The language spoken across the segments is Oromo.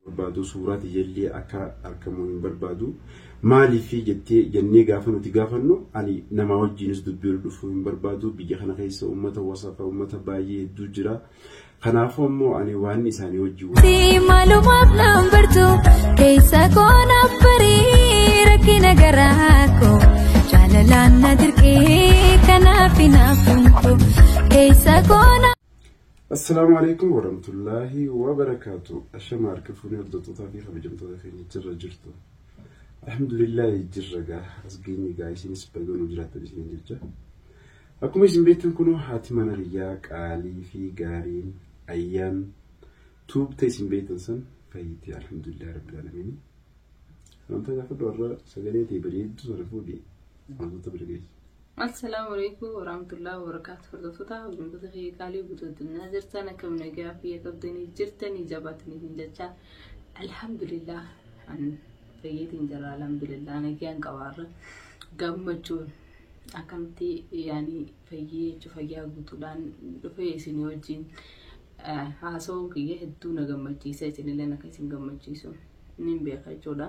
barbaadu suuraa tiyyallee akka argamu hin barbaadu maaliif jettee jennee gaafa nuti gaafannu ani namaa wajjiinis dubbii ol dhufuu hin barbaadu biyya kana keessa uummata wasafa uummata baay'ee hedduu jira kanaafuu ammoo ani waan isaanii wajjin Si maalumaaf naan bartu keessa koo naaf barii rakkina garaa koo jaalalaan na dirqee kanaaf hinaafun koo keessa koo na. Assalaamu alaikum warahmatullaahi wabarakaatu. Ashama harka fuunee hordoftoota fi kabajamtoota keenya jirra jirtu. Alhamdulillaahi jirra gaa as geenye gaa isinis bayyoo nu jiraattan isiniin jecha. Akkuma isin beektan kunoo haati mana riyyaa qaalii fi gaariin ayyaan tuubte isin beektan san fayyite alhamdulillah rabbil alamin. Wanta gaafadhu warra sagalee ta'e bareeddu sana fuudhi wantoota bira geessu. Assalaamu alaikum warahmatullahi wabarakatuh hordoftoota hordoftoota kee qaalii guutuu addunyaa jirtan akka nagaa fayya qabdanii jirtanii jabaatanii hin jechaa alhamdulillah an fayyeetiin jira alhamdulillah nagaan qabaarra gammachuun akkamitti yaanii fayyee jechuun fayyaa guutuudhaan dhufee isin wajjin haasawuun kiyya hedduu na gammachiisa isinillee akka isin gammachiisu niin beeka jechuudha.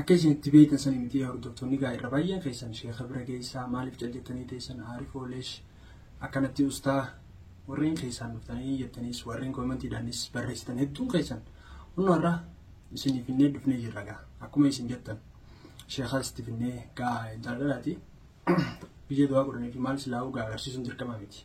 Akka isin itti beektan sani miti yaa hordoftoonni gaa irra baay'een keessan sheeka bira geessaa maaliif cal jettanii teessan aarifoo leesh akkanatti ustaa warreen keessaan dhuftanii jettaniis warreen koomentiidhaanis barreessitan hedduun keessan hunnu har'a isinii finnee dhufnee jirra gaa akkuma isin jettan sheekaa itti finnee gaa intala dhalaati biyya du'aa godhanii fi maal silaa'uu gaa agarsiisuun dirqama miti.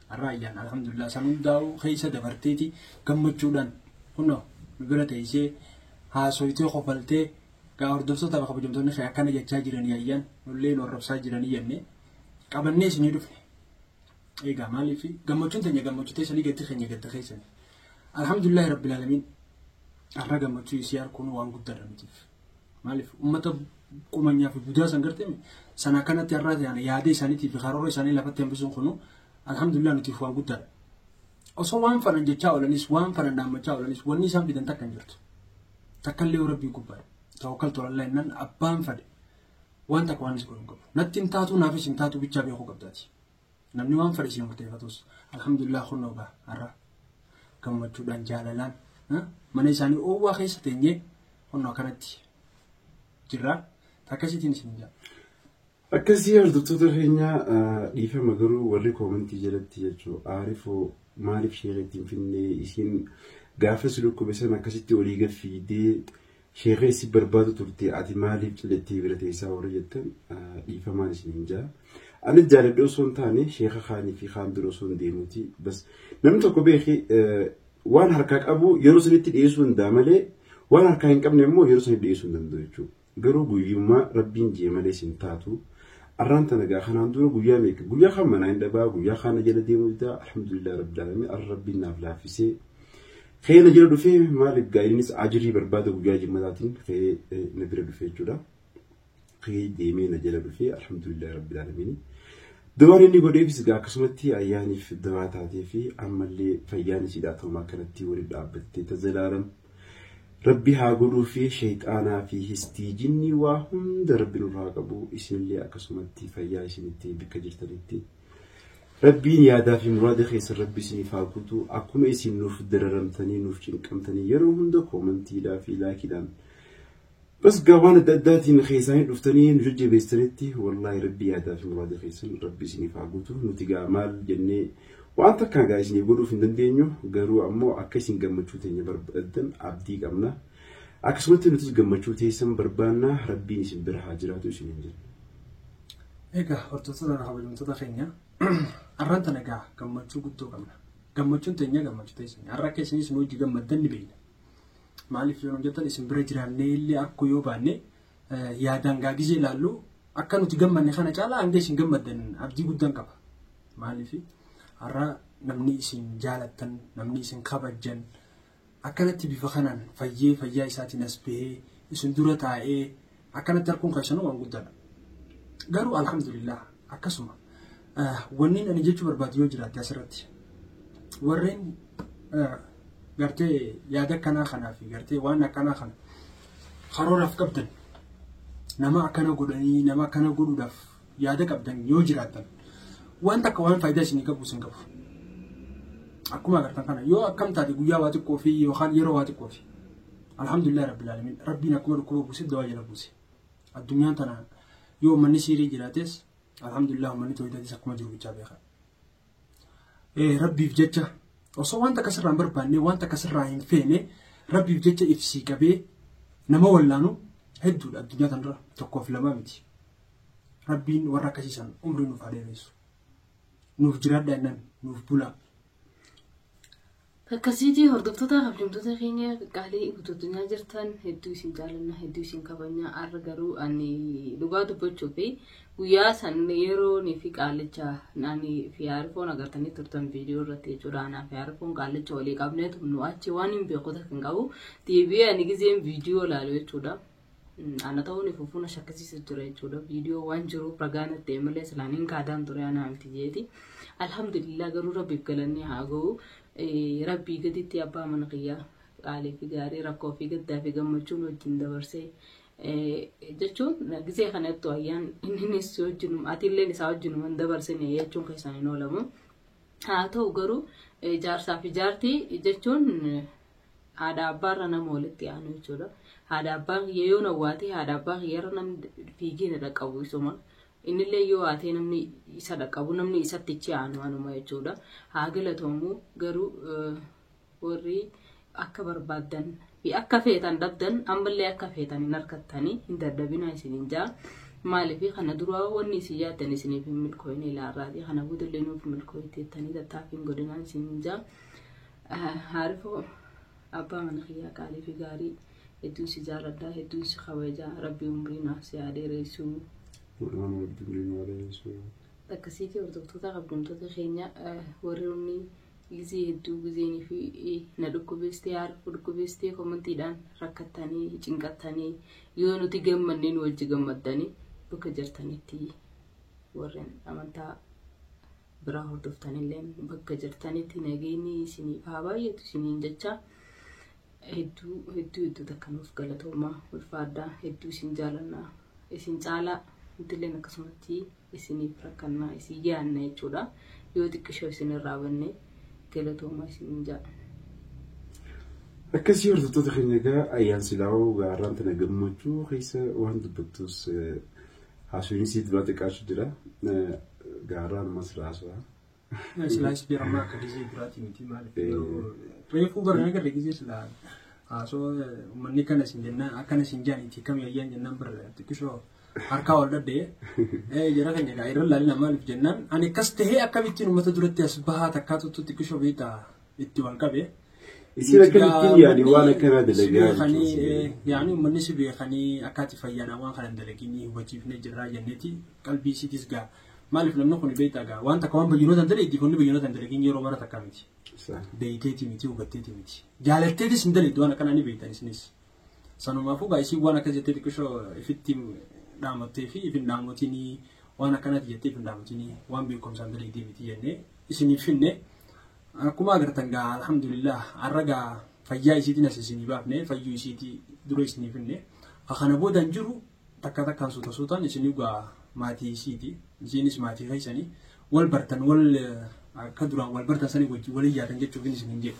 Har'a ayyaana alhamdulillah san hundaa'uu keessa dabarteeti gammachuudhaan kunoo nu bira teessee haasoytee kofaltee gaa hordoftoota kabajamtoonni kee akkana jechaa jiranii ayyaan nullee nu arrabsaa jiranii jennee qabannee isinii dhufne. Egaa maaliif gammachuun teenya gammachuu teessanii gaddi keenya gadda keessanii. Alhamdulillah rabbil alamin har'a gammachuu isii harkuun waan guddaadha mitiif. Maaliif uummata qumanyaa fi budaa san gartee sana akkanatti har'aa ta'an yaada isaaniitii fi karoora isaanii lafatti hambisuun kunu alhamdulillah nutiif waan guddaadha. Osoo waan fanan jechaa oolanis waan fanan dhaammachaa oolanis wanni isaan fidan takka hin jirtu. Takkallee yoo rabbii gubbaa tawakkaltu alallah innan abbaan fade waan takka waan isa godhu hin qabu. Natti hin taatu naafis hin taatu bichaa beekuu qabdaati. Namni waan fadhisee murteeffatus alhamdulillah kunnoo gaa har'a gammachuudhaan jaalalaan mana isaanii oowwaa keessa teenyee kunnoo akkanatti jirra. Takkasiitiin isin jaa. Akkasii hordoftoota keenya dhiifama garuu warri koomentii jalatti jechuun aarifoo maaliif sheekatti hin finnee isiin gaafas dhukkube san akkasitti olii gad fiigdee Sheeka isin barbaadu turte ati maaliif cinattee bira teessaa warri jettan dhiifamaan isin hin jaa. Anis jaaladhee osoo hin taane sheeka kaanii fi kaan bira osoo hin deemuuti. Bas namni tokko beeki waan harkaa qabu yeroo sanitti dhiyeessuu danda'a malee waan harkaa hin qabne immoo yeroo sanitti dhiyeessuu hin danda'u jechuudha. Garuu guyyummaa rabbiin jee malee isin taatu. Arraan tana gaa kanaan dura guyyaa meeqa guyyaa kan manaa hin dhabaa guyyaa kana jala deemuu didaa alhamdulillah rabbil alamin arra rabbiin naaf laaffisee Ka'ee na jala dhufee maal egaa innis ajirii barbaada guyyaa jimmataatiin ka'ee na bira dhufee jechuudha. Ka'ee deemee na jala dhufee alhamdulillah rabbil aalamiin. Dawaan inni godheefis egaa akkasumatti ayyaaniif dawaa taatee fi ammallee fayyaan isiidhaa ta'uma akkanatti waliin dhaabbattee tazalaalam. Rabbi haa godhuu fi sheexaanaa fi histii jinnii waa hunda rabbi nurraa qabu isinillee akkasumatti fayyaa isinitti bakka jirtanitti. Rabbiin yaadaa fi muraada keessan Rabbi isiniif haa guutu. Akkuma isin nuuf dararamtanii nuuf cinqamtanii yeroo hunda koomantiidhaa fi laakiidhaan bas gaa waan adda addaatiin keessaanii dhuftanii nu jajjabeessitanitti wallaahi Rabbi yaadaa fi muraada keessan Rabbi isiniif haa guutu. Nuti gaa maal jennee waan takkaa gaa isiniif godhuuf hin dandeenyu garuu ammoo akka isin gammachuu teenya barbaaddan abdii qabna. Akkasumatti nutis gammachuu teessan barbaanna Rabbiin isin bira haa jiraatu isiniin jenna. Egaa hordoftoota irraa kabajamtoota keenya har'aan tana egaa gammachuu guddoo qabna. Gammachuun teenya gammachuu teessanii har'a akka isinis nu hojii gammaddan ni beekna. Maaliif yoo nu jettan isin bira jiraannee illee arkuu yoo baanne yaadaan gaagizee ilaallu akka nuti gammanne kana caalaa hanga isin gammaddan abdii guddaan qaba. Maaliif har'a namni isin jaalattan namni isin kabajjan Akkanatti bifa kanaan fayyee fayyaa isaatiin as bahee isin dura taa'ee akkanatti arguun keessanuu waan guddaadha. Garuu alhamdulillah akkasuma wanniin ani jechuu barbaadu yoo jiraate asirratti warreen gartee yaada akkanaa kanaa fi gartee waan akkanaa kana karooraaf qabdan nama akkana godhanii nama akkana godhuudhaaf yaada qabdan yoo jiraattan waan takka waan faayidaa isinii qabu isin qabu. Akkuma agartan kana yoo akkam taate guyyaa waa xiqqoo fi yookaan yeroo waa xiqqoo fi alhamdulillah rabbil alamin rabbiin akkuma dhukkuba buuse dawaa jala buuse. Addunyaan tana yoo manni siirii jiraates alhamdulillah manni tooyitatis akkuma jiru bichaa beeka. Rabbiif jecha osoo waan takka sirraa hin barbaanne waan takka sirraa hin feene rabbiif jecha ibsii qabee nama wallaanu hedduudha addunyaa tanarra tokkoof lamaa miti. Rabbiin warra akkasiisan umrii nuuf haa dheeressu. Nuuf jiraadha innan nuuf bulaa. Akkasiitii hordoftoota kabajamtoota keenya qaqqaalee guutuu addunyaa jirtan hedduu isin jaalannaa hedduu isin kabajnaa har'a garuu ani dhugaa dubbachuu fi guyyaa san yeroo ni fi qaallicha ani fi haarifoon agartanii turtan viidiyoo irratti jechuudha anaa fi haarifoon qaallicha walii qabneetu nu achi waan hin beeku takka hin qabu deebi'ee ani gizeen viidiyoo laalu jechuudha. Ana ta'uu ni fufuun shakkisiisa jira jechuudha. Viidiyoo waan jiruuf ragaa natti ta'e malee silaan hin kaadaan ture anaa miti jeeti. Alhamdulillah garuu rabbiif galannee haa ga'u. Rabbii gaditti abbaa mana kiyyaa qaalii fi gaarii rakkoo fi gaddaa fi gammachuun wajjin dabarsee jechuun gisee kanattu ayyaan inninis wajjin atiilleen isaa wajjin waan dabarsine jechuun keessaan hin oolamu. Haa ta'u garuu jaarsaa fi jaartii jechuun Haadha abbaarra nama walitti aanu jechuudha. Haadha abbaa kiyya yoo nawwaatee haadha abbaa kiyyarra namni fiigee na dhaqqabu isuma. Innillee yoo haatee namni isa dhaqqabu namni isatti ichi aanu anuma jechuudha. Haa galatoomu garuu eh, warri akka barbaaddan fi akka feetan dhabdan ammallee akka feetan hin argattanii hin dadhabinaa isiniin jaa. Maaliif kana duraa wanni isin yaaddan isiniif hin milkooyne ilaarraati. Kana boodallee nuuf milkooyteettanii tattaaffiin godinaan isiniin jaa. Haarifoo abbaa mana kiyyaa qaalii fi gaarii hedduun si jaaladha hedduun si kabaja rabbi umrii naaf si haa dheeressu. Maqaan rabbi umrii nu haa dheeressu. Akkasii kee hordoftoota kabjamtoota keenya warri inni gizee hedduu gizeenii fi na dhukkubeessitee haarifuu dhukkubeessitee komantiidhaan rakkattanii cinqattanii yoo nuti gammannee nu wajji gammaddanii bakka jirtanitti warreen amantaa biraa hordoftanillee bakka jirtanitti nageenyi isiniif haa baay'atu isiniin jecha hedduu hedduu hedduu takka nuuf galatoomaa ulfaadhaa hedduu isin jaalannaa isin caalaa nutilleen akkasumatti isiniif rakkannaa isin yaanna jechuudha yoo xiqqishoo isin irraa banne galatoomaa isiniin ja'a. Akkasii hordoftoota keenya egaa ayyaan silaa'oo gaarraan tana gammachuu keessa waan dubbattus Haasofni sii duraa xiqqaachu jira. Gaaruu ammas raasuudha. Silaas biyya ammaa akka gizee duraati miti maal reefuu bara nagarre gizee silaa haasoo uummanni kana isin jennaan akkana isin jaan itti kam yayyaan jennaan bara xiqqishoo harkaa ol dhaddee jara keenya gaa irra laalina maaliif jennaan ani akkas tahee akkamittiin uummata duratti as bahaa takkaa tuttu xiqqishoo beektaa itti wal qabe. Isin akkamittiin yaani waan akkanaa dalagaa jechuun yaani uummanni si beekanii akkaati fayyaadhaan waan kana dalaginii hubachiifnee jirraa jenneeti qalbii isiitis gaa maaliif namni kun beektaa gaa waan takka waan bayyinoota hin daleeddi kunni bayyinoota hin dalagin yeroo mara takka miti beekteeti miti hubatteeti miti jaalatteetis hin daleeddi waan akkanaa ni beektan isinis Sanumaafuu gaa isiin waan akkas jettee xiqqishoo ifitti dhaamattee fi ifin dhaamotinii waan akkanati jettee ifin dhaamotinii waan beekumsaan dalaydee miti jennee isiniif finne akkuma agartan gaa alhamdulillah har'a gaa fayyaa isiitiin as isinii baafne fayyuu isiitii dura isiniif finne kana booda hin jiru takka takkaan suuta suutaan isinii gaa maatii isiiti isiinis maatii keessanii wal bartan wal akka duraan wal bartan sanii wajjin wal iyyaatan jechuuf isiniin jedhe.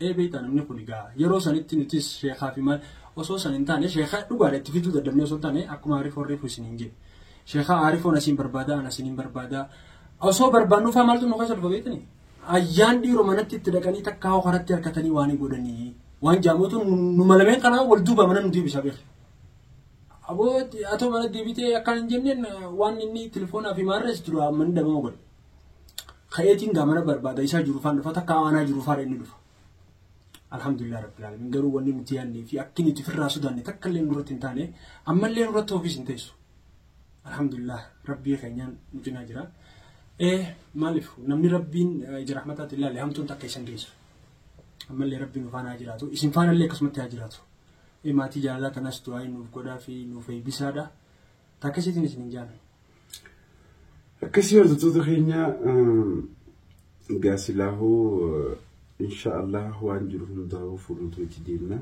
Ee beektaa namni kuni gaa yeroo sanitti nutis sheekaa fi maal osoo san hin taane sheekaa dhugaadha itti fiduu dadhabnee osoo hin taane akkuma Aarifoon reefu isiniin jedhe sheekaa Aarifoon asiin barbaada an asiin hin barbaada osoo barbaannu faa maaltu nu keessa dhufa beektani ayyaan dhiiroo manatti itti dhaqanii takkaa hoo karatti harkatanii waan hin godhanii waan jaamuutu nu malameen kanaa wal duuba mana nu deebisa beekta. Aboo atoo mana deebitee akkaan hin jenneen waan inni telefoonaa fi maarrees dura manni dhabama godhe. ka'eetiin gaa mana barbaada isaa jiru faan dhufa takka aanaa jiru faadha inni dhufa. Alhamdulillah rabbil alamin garuu wanni nuti yaannee fi akki nuti firraa sodaanne takka illee nurratti hin taane ammallee nurratti ofiis hin teessu. Alhamdulillah rabbii keenyaan nu cinaa jira. Ee maaliif namni rabbiin ija rahmataatti ilaale hamtuun takka isan geessu. Ammallee rabbiin nu faana haa jiraatu isin faanallee akkasumatti haa jiraatu. Ee maatii jaalalaa tanas du'aa nuuf godhaa fi nuuf eebbisaadha. Takka isiitiin isin hin jaalanne. Akkasii hordoftoota keenya gaasilaahoo insha Allah waan jiru hundaa'uu fuulduratti itti deemna.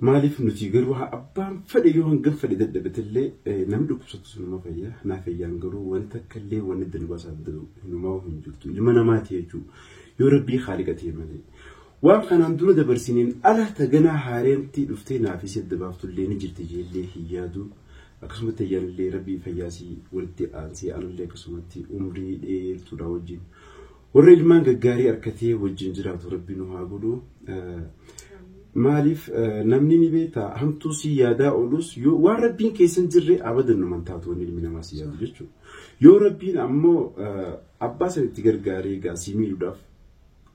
Maaliif nuti garuu haa abbaan fedhe yoo hangam fedhe dadhabatellee namni dhukkubsatu sunuma fayya. Naa fayyaan garuu wanta akkallee wanni danbaasaa danda'u hinumaa hin jirtu. Ilma namaati jechuudha. Yoo rabbii haaliqa ta'e malee. Waan kanaan dura dabarsineen ala ta ganaa haareentti dhuftee naa fi si adda baaftullee ni jirti jeellee hin yaadu. Akkasumatti Ayyaanillee Rabbii fayyaa isii walitti aansee anallee akkasumatti umrii dheertuudhaa wajjin warra ilmaan gaggaarii arkatee wajjin jiraatu Rabbi nu haa godhu. Maaliif namni ni beekta hamtuu si yaadaa oolus yoo waan Rabbiin keessan jirre abadan numan taatu wanni ilmi namaa si yaadu jechuudha. Yoo Rabbiin ammoo abbaa san itti gargaaree gaa si miidhuudhaaf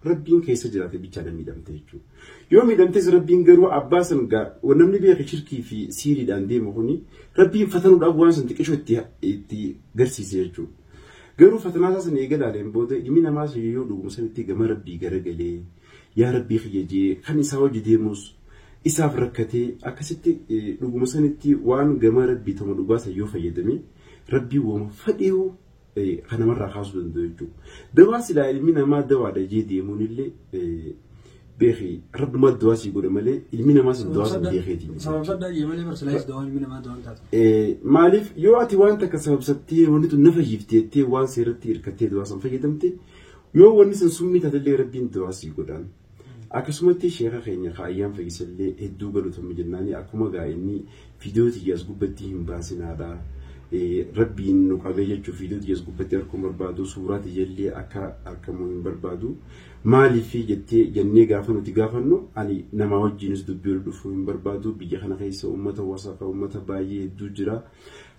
Rabbiin keessa jiraate bichaadha miidhamte jechuudha. Yoo miidhamtes Rabbiin garuu abbaa san gaa namni beeke shirkii fi siiriidhaan deemu kuni Rabbiin fatanuudhaaf waan san xiqqishoo itti itti garsiise jechuudha. Garuu fatanaa isaa san eega ilaaleen booda ilmi namaa sun yoo dhuguma sanitti gama Rabbii garagalee yaa Rabbii kiyya jee kan isaa hojii deemus isaaf rakkatee akkasitti dhuguma sanitti waan gama Rabbii tama dhugaa san yoo fayyadame Rabbii wama fadhiyuu kan namarraa kaasuu danda'u jechuudha. Dawaa silaa ilmi namaa dawaadha jee deemuun illee beeki rabbuma dawaa sii godhe malee ilmi namaa sun dawaa sun beekeeti. Sababsadha jee malee bar silaa dawaan ilmi namaa dawaan taatu. Maaliif yoo ati waan takka sababsattee wanni tun na fayyifte jettee waan seeratti hirkattee dawaa san fayyadamte yoo wanni sun summii taatellee rabbiin dawaa sii godhaan. Akkasumatti sheeka keenya ka ayyaan fayyisallee hedduu galatommi jennaani akkuma gaa inni fiidiyoo tiyyaas gubbatti hin baasinaadha. Rabbiin nu qabee jechuun fiidiyoo tiyyaas gubbatti harkuu hin barbaadu suuraa tiyyallee akka argamu hin barbaadu. Maaliif jettee jennee gaafa nuti gaafannu ani namaa wajjinis dubbii ol dhufuu hin barbaadu biyya kana keessa uummata wasaqa uummata baay'ee hedduu jira.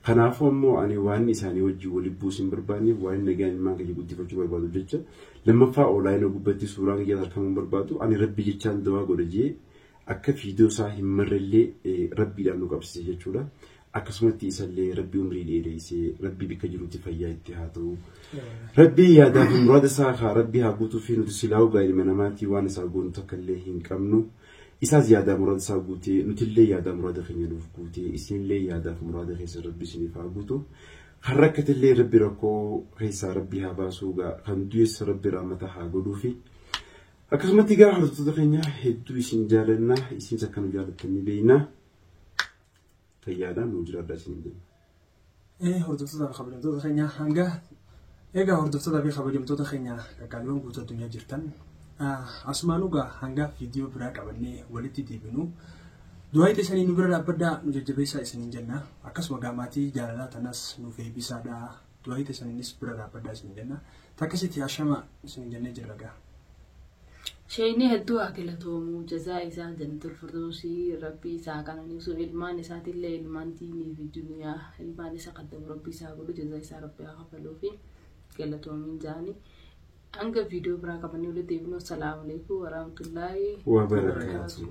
Kanaafuu ammoo ani waan isaanii wajjin waliin buusu hin barbaanneef waan nagaan ilmaan kiyya guddifachuu barbaadu jecha Lammaffaa oolaayina gubbatti suuraan kiyyas arkamuu hin barbaadu ani rabbi jechaan dawaa godha jee akka fiidoo isaa hin marrellee rabbiidhaan nu qabsise jechuudha akkasumatti isallee rabbi umrii dheereessee rabbi bikka jirutti fayyaa itti haa ta'u rabbi yaadaa fi muraada isaa haa rabbi haa guutuu fi nuti silaa'uu gaa ilma namaatii waan isaa goonu takka illee hin qabnu isaas yaadaa muraada isaa guutee nutillee yaadaa muraada keenya nuuf guutee isinillee yaadaa fi muraada keessa rabbi isiniif haa guutu Kan rakkatillee rabbi rakkoo keessaa rabbi haa baasuu gaa kan du'es rabbi raamata haa godhuufi. Akkasumatti gaa hordoftoota keenya hedduu isin jaalanna isinis akka nu jaalattan ni beekna. Fayyaadhaan nu jiraadhaa isin jenna. Hordoftoota kabajamtoota keenya hanga Egaa hordoftoota fi kabajamtoota keenya qaqqaaliiwwan guutuu addunyaa jirtan asumaan dhugaa hangaa viidiyoo biraa qabannee walitti deebinu du'aayi teessanii nu bira dhaabbadhaa nu jajjabeessaa isiniin jenna akkasuma gaamaatii jaalalaa tanas nuuf eebbisaadhaa du'aayi teessaniinis bira dhaabbadhaa isiniin jenna takkasitti hashama isiniin jennee jirra gaa. Sheeynii hedduu haa galatoomuu jazaa isaa jannatul firdowsii rabbii isa haa qananiisuu ilmaan isaatillee ilmaan diinii fi duniyaa ilmaan isa qaddamu rabbii isa haa godhu jazaa isaa rabbii haa kafaluufi galatoomiin jaani hanga viidiyoo biraa qabannee walitti deebinu assalaamu alaikum waraamtullaahi Waa barakaatu.